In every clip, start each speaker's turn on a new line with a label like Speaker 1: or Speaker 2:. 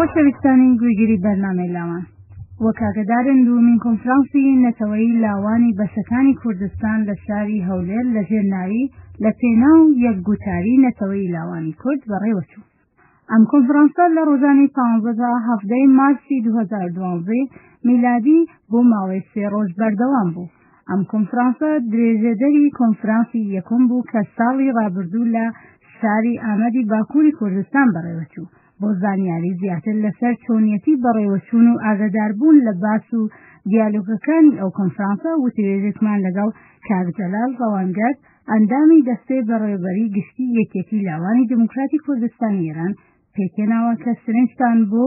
Speaker 1: خۆشەویستانی گوێگری بەرنامەی لاوان وەک ئاگدارن دومین کۆنفرانسی نەتەوەی لاوانی بەشەکانی کوردستان لە شاری هەولێر لە ژێر ناوی لە پێنا و یەک گوتاری نەتەوەی لاوانی کورد بەڕێوەچوو ئەم کۆنفرانسە لە ڕۆژانی پانزەدا هەفتەی مارسی 2012 میلادی بۆ ماوەی سێ ڕۆژ بەردەوام بوو ئەم کۆنفرانسە درێژەدەری کۆنفرانسی یەکم بوو کە ساڵی ڕابردوو لە شاری ئامەدی باکووری کوردستان بەڕێوەچوو بۆ زانیاری زیاتر لەسەر چۆنیەتی بەڕێوەچوون و ئاگاداربوون لە باس و دیالۆگەکانی ئەو کۆنفرانسە وتوێژێکمان لەگەڵ کاک جەلال ڕەوانگەر ئەندامی دەستەی بەڕێوەبەری گشتی یەکێتی لاوانی دیموکراتی کوردستانی ئێران پێکێناوە کە سرنجتان بۆ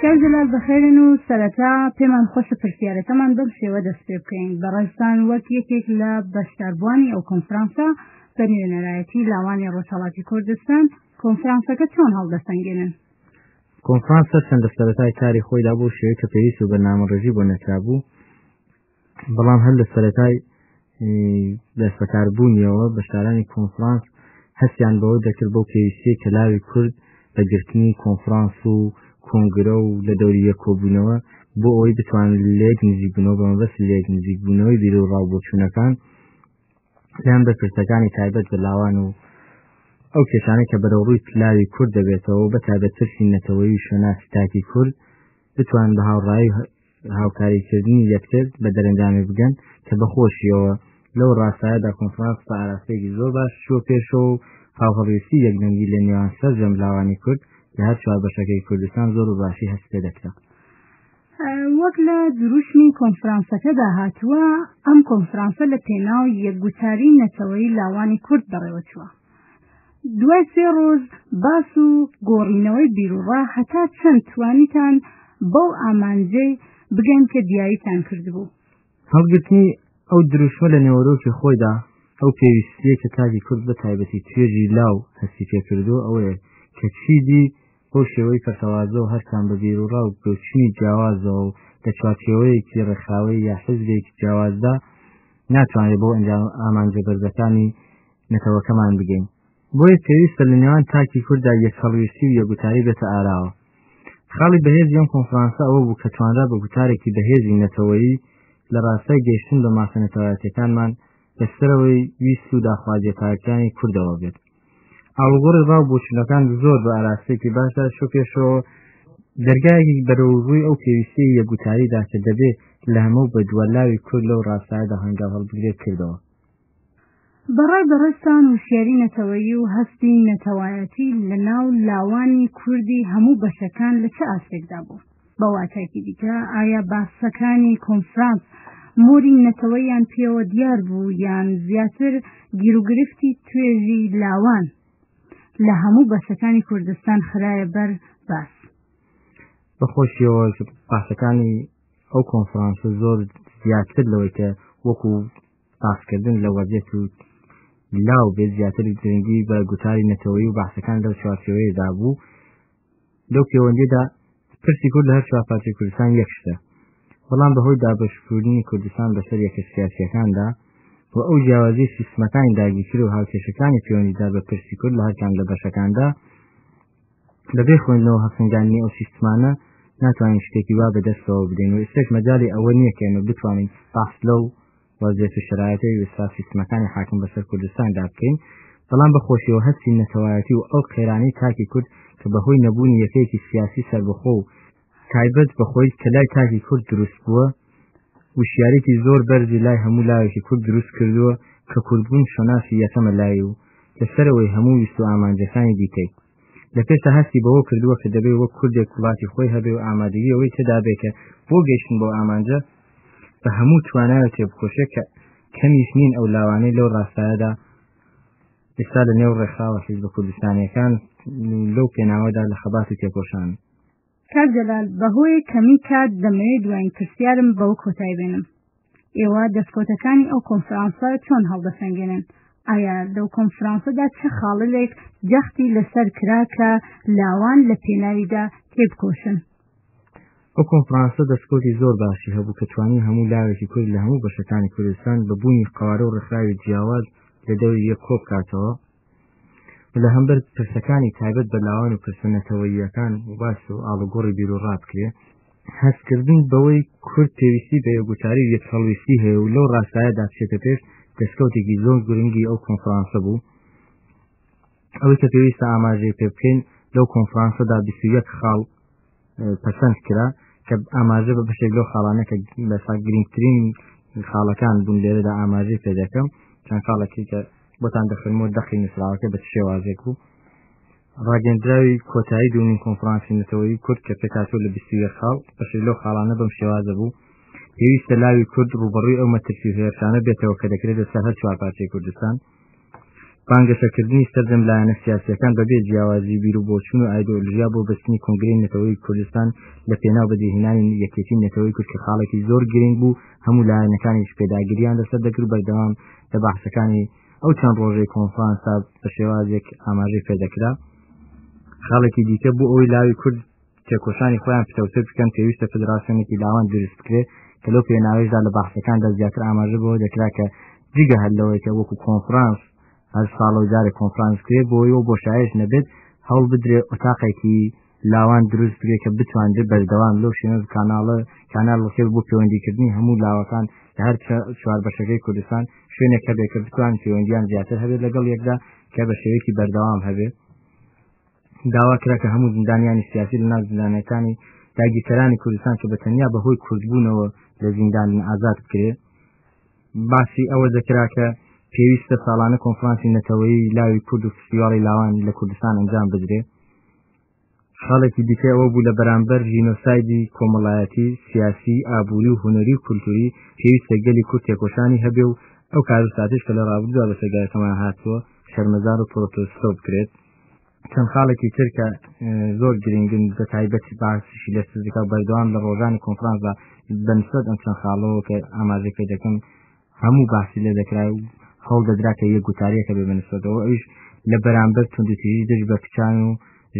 Speaker 1: کاک جەلال بەخێرن و سەرەتا پێمان خۆشە پرسیارەکەمان بەم شێوە دەست پێ بکەین بەڕێزتان وەک یەکێک لە بەشداربووانی ئەو کۆنفرانسە بە نوێنەرایەتی لاوانی ڕۆژهەڵاتی کوردستان کۆنفرانسەکە چۆن هەڵدەسەنگێنن کۆنفرانسە
Speaker 2: چەندە سەرەتای کاری خۆیدا بۆ شێوەی کە پێویست و بەرنامەڕێژی بۆ نەکرابوو بەڵام هەر لە سەرەتای دەستەکاربوونیەوە بەشدارانی کۆنفرانس هەستیان بەوە دەکرد بۆ پێویستی کە لاوی کورد بە گرتنی کۆنفرانس و کۆنگرە و لە دەوری یەک کۆبوونەوە بۆ ئەوەی بتوان لێک نزیک بوونەوە بە مەبەست لێک نزیک بوونەوەی بیر و ڕاو بۆچوونەکان پێیان بە پرسەکانی تایبەت بە لاوان و ئەو کێشانە کە بەرەوڕووی لاوی کورد دەبێتەوە بە تایبەت ترسی نەتەوەی شوێناسی تاکی کورد بتوان بە هاوڕایی هاوکاریکردنی یەکتر بە دەرەنجامی بگەن کە بەخۆشیەوە لەو ڕاستایەدا کۆنفرانس بە ئاراستەیەکی زۆر باش چوە پێشەوە و هاوهەڵویستی یەکدەنگی لە نێوان سەرجەم لاوانی کورد لە هەر چوار بەشەکەی کوردستان زۆر و باشی هەست پێ دەکرا
Speaker 1: وەک لە دروشمی کۆنفرانسەکەدا هاتووە ئەم کۆنفرانسە لە پێناو یەکگوتاری نەتەوەی لاوانی کورد بەڕێوەچووە دوای سێ ڕۆژ باس و گۆڕینەوەی بیروڕا هەتا چەند توانیتان بەو ئامانجەی بگەن کە دیاریتان کردبوو هەڵگرتنی
Speaker 2: ئەو دروشمە لە نێوەرۆکی خۆیدا ئەو پێویستیە کە تاکی کورد بە تایبەتی توێژی لاو هەستی پێکردووە ئەوەیە کە چیدی بۆ شێوەی پەرتەوازە و هەرسان بە بیروڕا و بۆچونی جیاوازەوە و لە چوارچێوەیەکی ڕێکخراوەی یا حزبێکی جیاوازدا ناتوانێت بۆ ئەنجام ئامانجە بەرزەکانی نەتەوەکەمان بگەین بۆیە پێویستە لە نێوان تاکی کوردا یەک هەڵویستی و یەگوتاری بێتە ئاراوە خاڵی بەهێزی ئەم کۆنفرانسە ئەوە بوو کە توانرا بە گوتارێکی بەهێزی نەتەوەیی لە ڕاستای گەیشتن بە ماسە نەتەوایەتەکانمان لەسەرەوەی ویست و داخوازیە تاکانی کوردەوە بێت ئاڵوگۆڕی ڕاو بۆچونەکان زۆر بە ئاراستێکی باشدا شو پێشەوە دەرگایەکی بەرەوڕووی ئەو پێویستی یەگوتاریدا کە دەبێت لە هەمە بە دووەلاوی کورد لەو ڕاستایدا هەنگاو هەڵبگرێت کردەوە
Speaker 1: بە ڕای بەڕێزتان وشیاری نەتەوەیی و هەستی نەتەوایەتی لە ناو لاوانی کوردی هەموو بەشەکان لە چ ئاستێکدا بوو؟ بە واتایەکی دیکە ئایا باسەکانی کۆنفرانس مۆری نەتەوەیان پێوە دیار بوو یان زیاتر گیروگرفتی توێژی لاوان لە هەموو بەشەکانی کوردستان خرایە بەر باس؟
Speaker 2: بەخۆشیەوە پاسەکانی ئەو کۆنفرانسە زۆر زیاتر لەوەی کە وەکو باسکردن لە وەزیەت و لاو بێت زیاتر گرنگی بە گوتاری نەتەوەی و باسەکان لەو چوارچەوەیەدا بوو لەو پەیوەندیدا پرسی کورد لە هەر چوار پارتی کوردستان یەکشتە بەڵام بەهۆی دابشکردنی کوردستان بەسەر یەکە سیاسیەکاندا و ئەو جیاوازی سیستمەکانی داگیرکر و هاوکێشەکانی پەیوەندیدار بە پرسی کورد لە هەرکان لە بەشەکاندا بەبێ خوێندنەوە هەڵسەنگاندنی ئەو سیستمانە ناتوانین شتێکی وا بەدەستەوە بدەین و ئێستاش مەجالی ئەوە نییە کە ئێمە بتوانین بەحس لەو وەزعیەت و شەرایەتەی ئێستا سیستمەکانی حاکم بەسەر کوردستاندا بکەین بەڵام بە خۆشیەوە هەستی نەتەوایەتی و ئەو قەیرانەی تاکی کورد کە بەهۆی نەبوونی یەکەیەکی سیاسی سەربەخۆ و تایبەت بە خۆی کە لای تاکی کورد دروست بووە وشیارێکی زۆر بەرزی لای هەموو لاوێکی کورد دروست کردووە کە کوردبوون شەناسی یەکەمە لای و لە سەرەوەی هەموو ویست و ئامانجەکانی دیکەی لە پێشە هەستی بەوە کردووە کە دەبێ وەک کوردێک وڵاتی خۆی هەبێ و ئامادەگی ئەوەی تێدابێ کە بۆ گەیشتن بۆ ئامانجە بە هەموو توانایە تێبکۆشێ کە کەمیش نین ئەو لاوانەی لەو ڕاستایەدا ئێستا لە نێو ڕێکخراوە حیزبە کوردستانیەکان لەو پێناوەدا لە خەباتی تێکۆشان کاک
Speaker 1: جەلال بەهۆێ کەمی کات دەمەوێ دوایین پرسیارم بەوە کۆتای بێنم ئێوە دەستکۆتەکانی ئەو کۆنفرانسە چۆن هەڵدەسەنگێنن ئایا لەو کۆنفرانسەدا چه خاڵلێک جەختی لەسەر کرا کە لاوان لە پێناویدا تێبکۆشن
Speaker 2: ئەو کۆنفرانسە دەستکۆتی زۆر باشی هەبوو کە توانی هەموو لاوێکی کورد لە هەموو بەشەکانی کوردستان بە بوونی قوارە و ڕخراوی جیاواز لە دەوری یەک کۆبکاتەوە لە هەمبەر پرسەکانی تایبەت بە لاوان و پرسە نەتەوەییەکان و باس و ئاڵوگۆڕی بیر و ڕابکرێ هەستکردن بەوەی کورد پێویستی بە یەگوتاری و یەکسەڵویستی هەیە و لەو ڕاستایەدا بچێتە پێش دەستکەوتێکی زۆر گرنگی ئەو کۆنفرانسە بوو ئەوەی کە پێویستە ئاماژەی پێ بکەین لەو کۆنفرانسەدا 21 خاڵ پەسەند کرا کە ئاماژە بە بەشێک لەو خاڵانە کە بەسا گرنگترین خاڵەکان بوون لێرەدا ئاماژەی پێ دەکەم چەند خاڵەکەی کە بۆتان دەخنمۆ دەقی نووسراوەکە بە شێوازێک و ڕاگەندراوی کۆتایی دومین کۆنفرانسی نەتەوەی کورد کە پێکاتۆ لە بیستویە خاڵ بەشێک لەو خاڵانە بەم شێوازە بوو پێویستە لاوی کورد ڕوبڕی ئەو مەترسی هێرشانە بێتەوە کە دەکرێت لەسەر هەر چوار پارچەی کوردستان بانگەشەکردنی سەرجەم لایەنە سیاسیەکان بەبێ جیاوازی بیر و بۆچون و ئایدۆلژیا بۆ بەستنی کنگرەی نەتەوەی کوردستان لە پێناو بەدیهێنانی یەکێتی نەتەوەی کورد کە خاڵێکی زۆر گرنگ بوو هەموو لایەنەکانیش پێداگریان لەسەر دەکرد بەردەوام لە بەحسەکانی ئەو چەند ڕۆژەی کۆنفرانسا بە شێوازێک ئاماژەی پێدەکرا خاڵێکی دیکە بۆ ئەوەی لاوی کورد تێکۆشانی خۆیان پتەوتر بکەن پێویستە فدراسیۆنێکی لاوان دروست بکرێت کە لەو پێناوەیشدا لە بەحسەکاندا زیاتر ئاماژە بەوە دەکرا کە جگە هەر لەوەی کە وەکو کۆنفرانس هەر ساڵە و جارێک کۆنفرانس کرێ بۆی و بۆ شایش نەبێت هەڵ بدرێ ئۆتاقێکی لاوان دروست بکرێ کە بتواندێت بەردەوام لەو شێنەز کاناڵە کانال وەکێ بۆ پەیوەندیکردنی هەموو لاوەکان لە هەر چوار بەشەکەی کوردستان شوێنێک هەبێت کە بتوان پەیوەندیان زیاتر هەبێت لەگەڵ یەکدا کە بە شێوەیەکی بەردەوام هەبێت داوا کرا کە هەموو زیندانیانی سیاسی لە ناو زیندانەکانی داگیرکەرانی کوردستان کە بە تەنیا بەهۆی کوردبوونەوە لە زیندان ئازاد بکرێ باسی ئەوە دەکرا کە پێویستە ساڵانە کۆنفرانسی نەتەوەی لاوی کورد و فستیواڵی لاوان لە کوردستان ئەنجام بدرێ خاڵێکی دیکە ئەوە بوو لە بەرامبەر ژینۆسایدی کۆمەڵایەتی سیاسی ئابووری و هوەری و کولتوری پێویستە گەلی کورد تێکۆشانی هەبێ و ئەو کارستاتش کە لە ڕابردووە بە سەگایەکەمان هاتووە شەرمەزار و پرۆتۆستۆ بکرێت چەند خاڵێکی تر کە زۆر گرنگن بە تایبەت باسیشی لە سزیکا و بەردەوام لە ڕۆژانی کۆنفرانسدا بەنسبەت ئەم چەند خاڵەوە کە ئاماژە پێ دەکەم هەموو باسی لە دەکرا و هەڵ دەدرا کە یە گوتاریەکە بێ بەنسبەتەوە ئەوش لە بەرامبەر توندتیژی دژ بە کچان و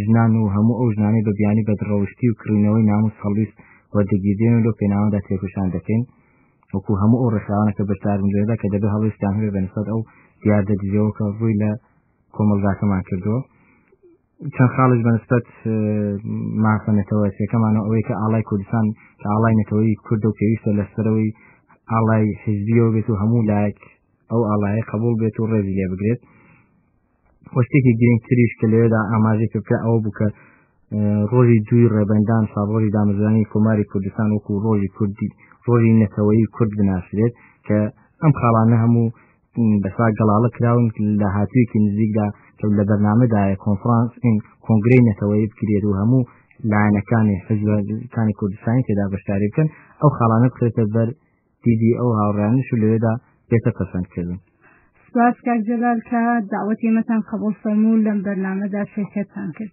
Speaker 2: ژنان و هەموو ئەو ژنانەی بە بیانی بەدڕەوشتی و کڕینەوەی ناموس هەڵویست وەردەگیردێن و لەو پێناوەدا تێکوشان دەکەین وەکو هەموو ئەو ڕێکخراوانەکە بەشداربنجێدا کە دەبێ هەڵویستان هەبێ بەنسبەت ئەو دیاردە دژەوە کە ڕووی لە کۆمەڵگاکەمان کردووە چەند خاڵش بەنسبەت مافە نەتەوەسیەکەمانەوە ئەوەی کە ئاڵای کوردستان کە ئاڵای نەتەوەی کورد و پێویستە لەسەرەوەی ئاڵای حزبیەوە بێت و هەموو لایەک ئەو ئاڵایە قبول بێت و ڕێزی لێ بگرێت وەشتێکی گرنگتریش کە لێدا ئاماژی کردکە ئەو بکە ڕۆژی دوی ڕێبندان ساڕۆژی دامەزرانی کۆماری کوردستان وەکو ڕۆژی کوردی ڕۆژی نەتەوەی کورد بناسرێت کە ئەم خاڵانە هەموو بەسا گەڵاڵە کراون لە هاتوویەکی نزیکدا کە لە بەرنمەدایە کۆنفرانس این کۆنگری نەتەوەی بکرێت و هەموو لایەنەکانی حزبەکانی کوردستانی تێدا بەشداری بکەن ئەو خاڵانە بکرێتە بەر دیدی ئەو هاوڕانش و لەوێدا بێتە پەسەندکردن سپاس
Speaker 1: کاک جەلال کە داوەت ئێمەتان قبول فەرموو لەم بەرنمەدا شرکەتتان کرد